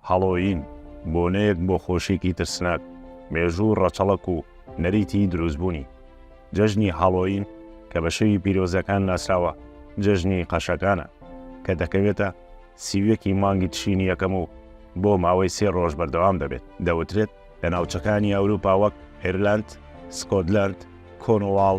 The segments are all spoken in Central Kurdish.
هەڵۆیین، بۆنەیەک بۆ خۆشییەکی ترسناک، مێژوو و ڕەچەڵەک و نەریتیی دروستبوونی. جەژنی هەڵۆیین کە بە شەوی پیرۆزەکان ناسراوە، جەژنی قەشەکانە، کە دەکەوێتە سی و یەکی مانگی تشرینی یەکەم و بۆ ماوەی سێ ڕۆژ بەردەوام دەبێت، دەوترێت، لە ناوچەکانی ئەوروپا وەک ئێرلاند، سکۆتلاند، کۆنواڵ،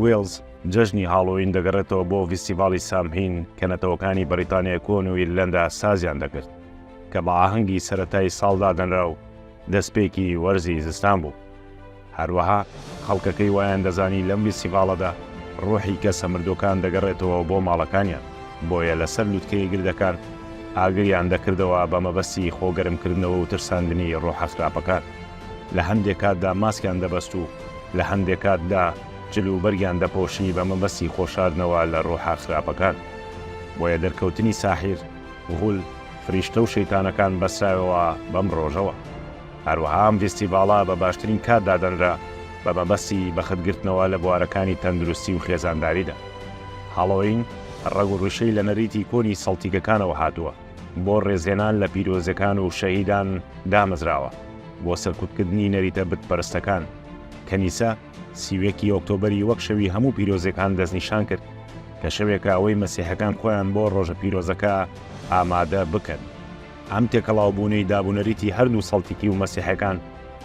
وێڵز، جەژنی هاڵۆوین دەگەڕێتەوە بۆ ڤیستیڤاڵی سامهین کە نەتەوەکانی بەریتانیای کۆن و ئیرلەندا سازیان دەکرد، کە بە ئاهەنگی سەرەتای ساڵ دادەنرا و دەستپێکی وەرزی زستان بوو. هەروەها خەڵکەکەی وایاندەزانی لەم ڤیستیڤاڵەدا ڕۆحی کەسە مردووەکان دەگەڕێتەوە بۆ ماڵەکانیان. بۆیە لەسەر لوتکەی گردەکان ئاگریان دەکردەوە بە مەبەستی خۆگەرمکردنەوە و ترساندنی ڕۆحە خراپەکان، لە هەندێک کاتدا ماسکیان دەبەست و لە هەندێک کاتدا جل و بەرگیان دەپۆشی بە مەبەستی خۆشاردنەوە لە ڕۆحە خراپەکان. بۆیە دەرکەوتنی ساحیر، غول، فریشتە و شەیتانەکان بەسترایەوە بەم ڕۆژەوە. هەروەها ئەم ڤیستیڤاڵە بە باشترین کات دادەنرا بە مەبەستی بەخت گرتنەوە لە بوارەکانی تەندروستی و خێزانداریدا. هاڵۆوین ڕەگ و ڕیشەی لە نەریتی کۆنی سەڵتیکەکانەوە هاتووە، بۆ ڕێزلێنان لە پیرۆزەکان و شەهیدان دامەزراوە، بۆ سەرکوتکردنی نەریتە بتپەرستەکان. کەنیسە سی و یەک ی ئۆکتۆبەری وەک شەوی هەموو پیرۆزەکان دەستنیشان کرد، کە شەوێکە ئەوەی مەسیحەکان خۆیان بۆ ڕۆژە پیرۆزەکە ئامادە بکەن. ئەم تێکەڵاوبوونەی دابونەریتی هەردوو سەڵتیکی و مەسیحەکان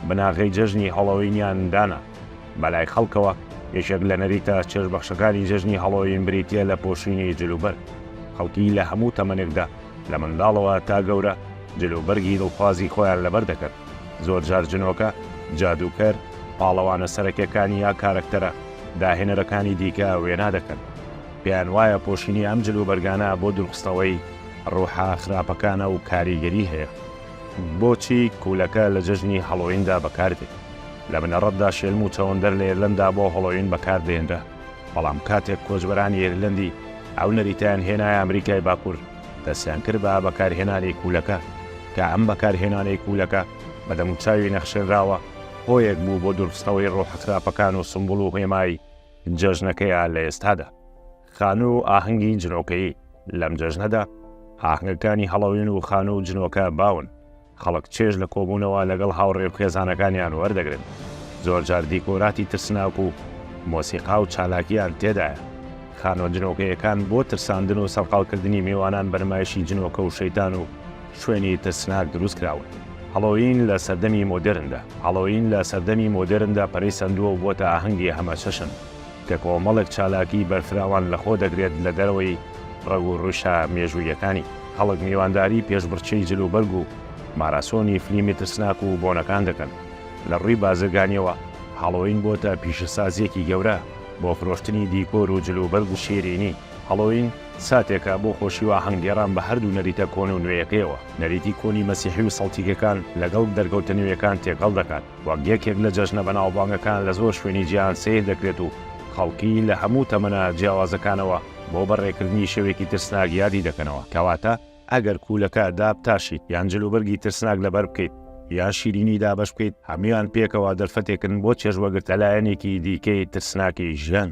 بناغەی جەژنی هەڵۆوینیان دانا. بەلای خەڵکەوە یەکێک لە نەریتە چێژبەخشەکانی جەژنی هەڵۆوین بریتییە لە پۆشینی جل و بەرگ. خەڵکی لە هەموو تەمەنێکدا لە منداڵەوە تا گەورە جل و بەرگی دڵخوازی خۆیان لەبەر دەکرد. زۆرجار جنۆکە، جادووکەر، پاڵەوانە سەرەکیەکان یا کارەکتەرە داهێنەرەکانی دیکە وێنا دەکەن. پێیان وایە پۆشینی ئەم جل و بەرگانە بۆ دوورخستنەوەی. ڕۆحە خراپەکانە و کاریگەری هەیە. بۆچی کوولەکە لە جەژنی هەڵۆویندا بەکاردێت؟ لە بنەڕەتدا شێلم و چەوەندەر لە ئێرلەندا بۆ هەڵۆوین بەکاردەهێنرا، بەڵام کاتێک کۆچبەرانی ئێرلەندی ئەو نەریتەیان هێنایە ئەمریکای باکوور، دەستیان کرد بە بەکارهێنانی کوولەکە، کە ئەم بەکارهێنانی کوولەکە بە دەموچاوی نەخشێنراوە هۆیەک بوو بۆ دورخستنەوەی ڕۆحە خراپەکان و سومبوڵ و هێمای جەژنەکەیان لە ئێستادا. خانوو و ئاهەنگی جنۆکەیی، لەم جەژنەدا ئاهەنگەکانی هەڵەوین و خانوو و جنۆکە باون، خەڵک چێژ لە کۆبوونەوە لەگەڵ هاوڕێ و خێزانەکانیان وەردەگرن، زۆرجار دیکۆراتی ترسناک و مۆسیقا و چالاکییان تێدایە، خانووە جنۆکەییەکان بۆ ترساندن و سەرقاڵکردنی میوانان بە نمایشی جنۆکە و شەیتان و شوێنی ترسناک دروستکراون. هەڵۆوین لە سەردەمی مۆدێرندا، هەڵۆوین لە سەردەمی مۆدێرندا پەرەی سەندووە و بۆتە ئاهەنگی هەمەچەشن، کە کۆمەڵێک چالاکی بەرفراوان لەخۆ دەگرێت لە دەرەوەی ڕەگ و ڕوشە مێژووییەکانی خەڵک میوانداری پێشبڕکێی جلوبەرگ و ماراسۆنی فلیمی ترسناک و بۆنەکان دەکەن، لە ڕووی بازرگانییەوە هاڵۆوین بۆتە پیشەسازییەکی گەورە بۆ فرۆشتنی دیکۆر و جلوبەرگ و شیرینی، هاڵۆوین ساتێکە بۆ خۆشی و ئاهەنگگێڕان بە هەردوو نەریتە کۆن و نوێیەکەیەوە، نەریتی کۆنی مەسیحی و سەڵتیکەکان لەگەڵ دەرکەوتە نوێیەکان تێکەڵ دەکات. وەک یەکێک لە جەژنە بەناوبانگەکان لە زۆر شوێنی جیهان سەیر دەکرێت و خەڵکی لە هەموو تەمەنە جیاوازەکانەوە بۆ بەڕێکردنی شەوێکی ترسناک یادی دەکەنەوە، کەواتە ئەگەر کوولەکە دابتاشیت یان جلوبەرگی ترسناک لەبەر بکەیت یان شیرینی دابەش بکەیت، هەموویان پێکەوە دەرفەتێکن بۆ چێژوەگرتە لایەنێکی دیکەی ترسناکی ژیان.